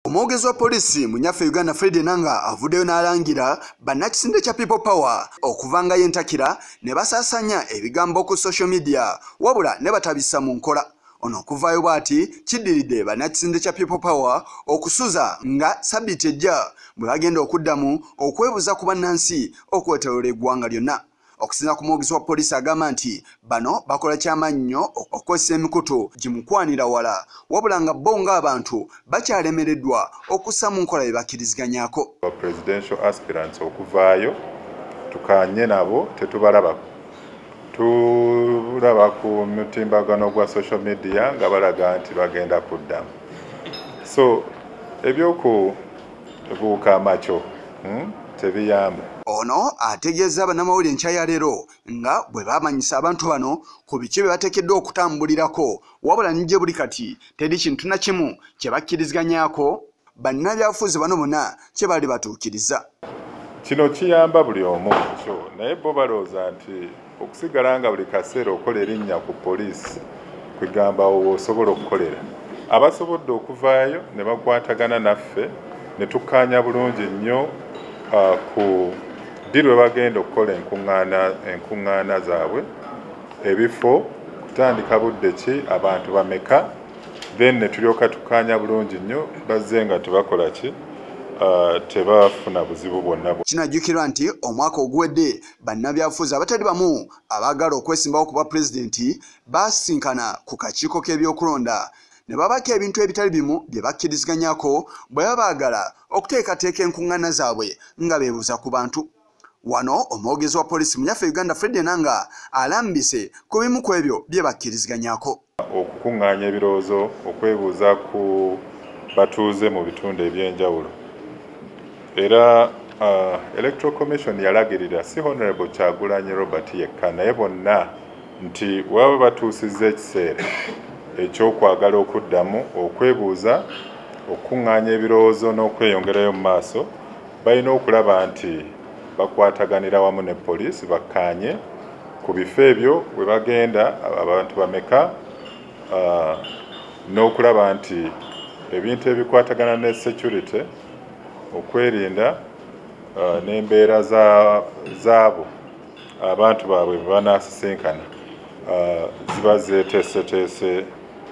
Omwogezi wa poliisi mu nyaffe Uganda Fred Enanga avuddeyo n'alangira bannakisinde kya People Power okuva nga yentakira ne basaasaanya ebigambo ku social media wabula ne batabissa mu nkola. Ono okuvaayo bw'ati kiddiridde bannakisinde kya People Power okusuza nga sabbiiti ejja bwe bagenda okuddamu okwebuza ku bannansi okwetoloola eggwanga lyonna. okusinza ku mwogezi wa poliisi agamba nti bano bakola kyamannyo okukozesa emikutu gimukwanira wala wabula nga bo ng'abantu bakyalemereddwa okussa mu nkola bye bakkiriziganyako presidential aspirants okuvaayo tukanye nabo tetubalabako tulaba ku mutimbagano gwa social media nga balaga nti bagenda kuddamu so ebyoku buuka amaco hmm? tebiyamba ono ategeeza bannamawulire enkya ya leero nga bwe bamanyisa abantu bano ku biki bye bateekeddwa okutambulirako wabula nigye buli kati teri kintu na kimu kye bakkiriziganyako bannabyafuzi bano bonna kye bali batuukiriza kino kiyamba buli omu kyo naye bo balowooza nti okusigala nga buli kaseera okola erinnya ku poliisi kwegamba osobola okukolera abasobodde okuvaayo ne bakwatagana naffe ne tukkaanya bulungi nnyo uh, ku ddi lwe bagenda okukola enkuŋŋaana zaabwe ebifo kutandika budde ki abantu bameka then ne tulyoka tukkaanya bulungi nnyo bazze nga tebakola ki Uh, tebafuna buzibu bwonna kinajjukirwa nti omwaka oguwedde bannabyabufuzi abatali bamu abaagala okwesimbawo ku bwa pulezidenti baasinkana ku kakiiko k'ebyokulonda ne babako ebintu ebitali bimu bye bakkiriziganyako bwe baba baagala okuteekateeka enkuŋŋaana zaabwe nga beebuuza ku bantu wano omwogezi wa poliisi mu yaffe uganda fred enanga alambise ku bimu ku ebyo bye bakkiriziganyako okukuŋŋaanya ebirowoozo okwebuuza ku batuuze mu bitundu eby'enjawulo era uh, electoral commission yalagirira si honorable kyagulanyi robert yekka naye bonna nti waba batuusizza ekiseera ekyokwagala okuddamu okwebuuza okukuŋŋaanya ebirowoozo n'okweyongerayo mu maaso balina okulaba nti bakwataganira wamu ne poliisi bakkaanye ku bifo ebyo we bagenda abantu bameka uh, n'okulaba nti ebintu ebikwatagana ne security okwerinda uh, n'embeera zaabo abantu baabwe bebanaasisinkana uh, ziba zeteeseteese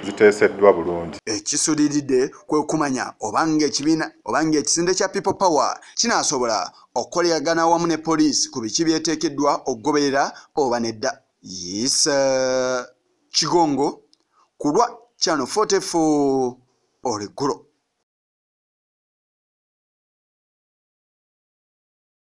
ziteeseddwa bulungi ekisuliridde kwekumanya obanga ekibiina obanga ekisinde kya people power kinaasobola okukoleragana awamu ne poliisi ku biki byeteekeddwa okugoberera oba nedda yisa kigongo ku lwa chano 44 olweggulo